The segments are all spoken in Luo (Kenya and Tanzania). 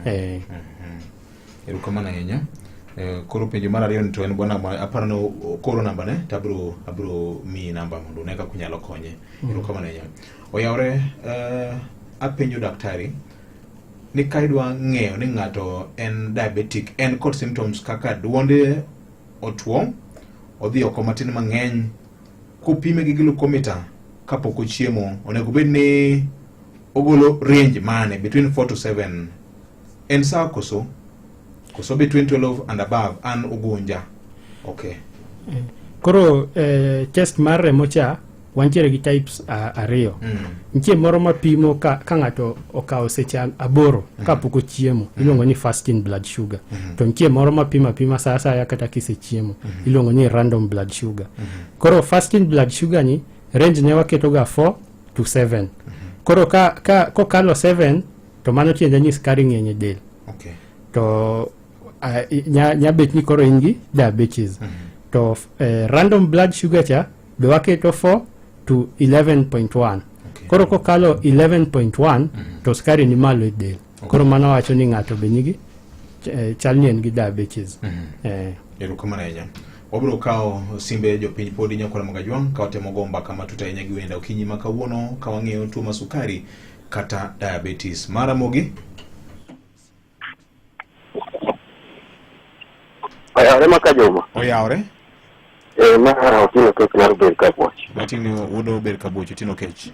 eh. erokamano ahinya eh, koro penjo mar ariyo ni to en bwana ma aparo ni o- koro namba ne to abro abro miyi namba mondo one kaka unyalo konye erokamano ahinya oyawre eh, apenjo daktari ni ka idwa ng'eyo ni ng'ato en diabetic en kod symptoms kaka duonde otuo odhi oko matin mang'eny Kopime gi glucometer kapok ochiemo, onego bed ni ogolo range mane between 4 to 7. En sawa koso? Koso between 12 and above an ugunja. Okay. Mm. Koro eh, chest mar remo cha wantiere gi types uh, ariyo. Mm. Nitie moro mapimo ka, ka ng'ato okawo seche aboro mm -hmm. kapok ochiemo mm -hmm. iluongo ni fasting blood sugar mm -hmm. to nitie moro mapima pima saa asaya kata kisechiemo mm -hmm. iluongo ni random blood sugar mm -hmm. koro fasting blood sugar ni range ne waketoga 4 to 7 mm -hmm. koro ka, ka kokalo 7 to mano tiende ni skari ng'eny e del okay. to uh, nya, nya bet ni koro in gi diabetes mm -hmm. to uh, random blood sugar cha be waketo 4 to 11.1 okay. koro kokalo 11.1 mm -hmm. to skari ni malo e del okay. koro mano wacho ni ng'ato be nigi eh, chal ni en gi diabetes mm -hmm. eh. erokamano ahinya wabiro kawo simbe jopiny pod inyakwara magajwang' ka watemo go mbaka matut ahinya gi wenda okinyi ma kawuono ka wang'eyo tuo ma sukari kata diabetes mara mogi Oyawore ma ka joma. Oyawore. Eh, ma otino kech mar bed ka bwoch. Otino wudo bed ka bwoch otino kech.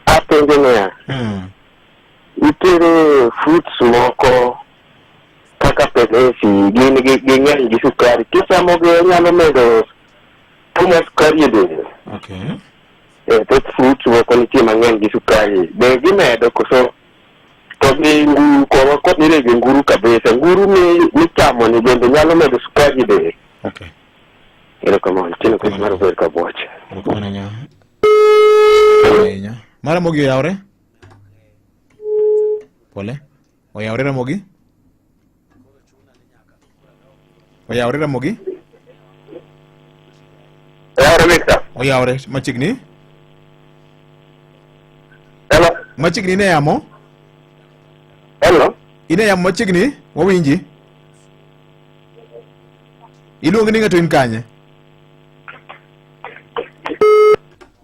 Apenjo niya. Hmm. Nitiere fruits moko kaka penesi gin ging'eny gi sukari. Kichamogi onyalo medo tumo sukari e del. Okay. Eh, thoth fruits moko nitie mang'eny gi sukari. Be gimedo koso To gi nguru koro kod nire gi nguru kabisa. Nguru mi michamo ni bende nyalo medo sukari be. Okay. Erokamano. Tino kwa maro ber ka boche. Erokamano nya. Nya. Mara mogi oyawre. Pole. Oyawre Ramogi. Oyawre Ramogi? Yawre Victor. Oyawre machiegni? Hello. Machiegni ine yamo? Hello. Ine yamo machiegni? Wawinji. Iluongi ni ng'ato in kanye?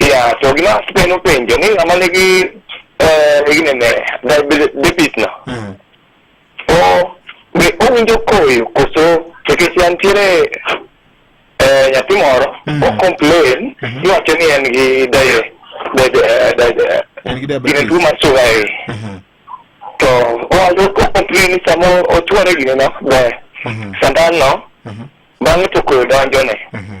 Ya, to gima penjo penjo ni ng'ama nigi eh, gine ne diabetes no. Mm. O be owinjo koyo koso nikech yantiere eh, nyathi moro Mm. o complain Mhm. ni wacho ni en gi diabetes. En gi diabetes. Gine tuo mar suga e. Mhm. To owacho o complain ni samo ochwore gine no be Mhm. sandan no Mhm. bang'e to koyo donjone. Mhm.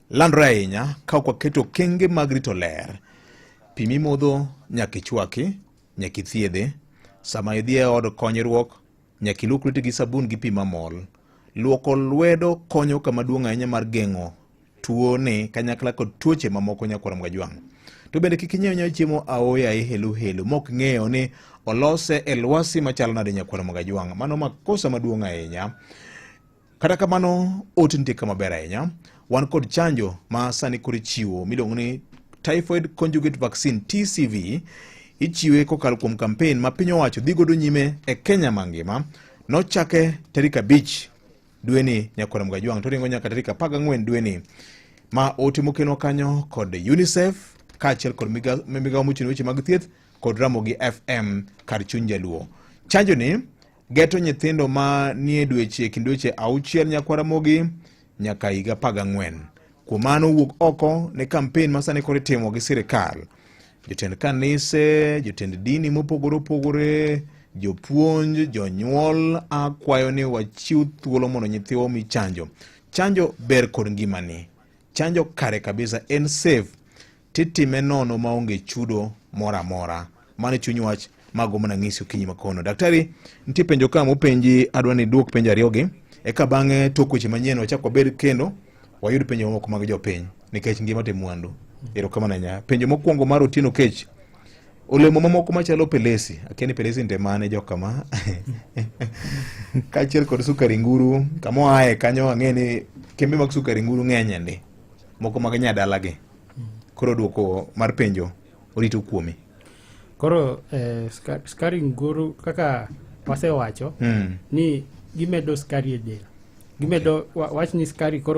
Landore ahinya ka ok waketo okenge mag rito ler. Pi mimodho nyaka ichwaki, nyaka ithiedhe. Sama idhi e od konyruok, nyaka iluok lweti gi sabun gi pi mamol. Luoko lwedo konyo kama duong' ahinya mar geng'o tuo ni kanyakla kod tuoche mamoko nyakwar Mgajwang'. To bende kik inyiew nyaw chiemo aoya e helu helu mok ng'eyo ni olose e lwasi machalo nade nyakwar Mgajwang'. Mano makosa maduong' ahinya. Kata kamano, ote nitie kama ber ahinya. Wan kod chanjo ma sani koro ichiwo miluongo ni Typhoid Conjugate Vaccine TCV. Ichiwe kokalo kuom kampen ma piny owacho dhi godo nyime e Kenya mangima. Nochake tarik abich dweni Nyakwar Mgajwang' to ringo nyaka tarik apar gang'wen dweni ma ote mokelwa kanyo kod UNICEF kaachiel kod migawo mochung' weche mag thieth kod Ramogi FM kar chuny Jaluo. Chanjoni Geto nyithindo ma nie dweche e kind dweche auchiel nyaka Ramogi nyaka higa apar ang'wen. Kuom mano wuok oko ne kampen ma sani koro itimo gi sirkal. Jotend kanise, jotend dini mopogore opogore, jopuonj, jonyuol akwayo ni wachiw thuolo mondo nyithiwa omi chanjo. Chanjo ber kod ngimani. Chanjo kare kabisa en safe. titime nono maonge chudo moro amora mano chuny wach mago mana ng'isi okinyi makono daktari nitie penjo ka mopenji adwa ni duok penjo ariyogi eka bang'e tok weche manyien wachak wabed kendo wayud penjo mamoko mag jopiny nikech ngima te mwandu erokamano ahinya penjo mokwongo mar otieno kech olemo mamoko machalo pelesi akia ni pelesi nte mane jokama kaachiel kod sukari nguru kamoaye kanyo ang'e ni kembe mag sukari nguru ng'enyende moko mag nyadalagi koro duoko mar penjo orito kuomi koro eh, ska- skari nguru kaka wasewacho mm. ni gimedo skari e del gimedo wa- wach ni skari koro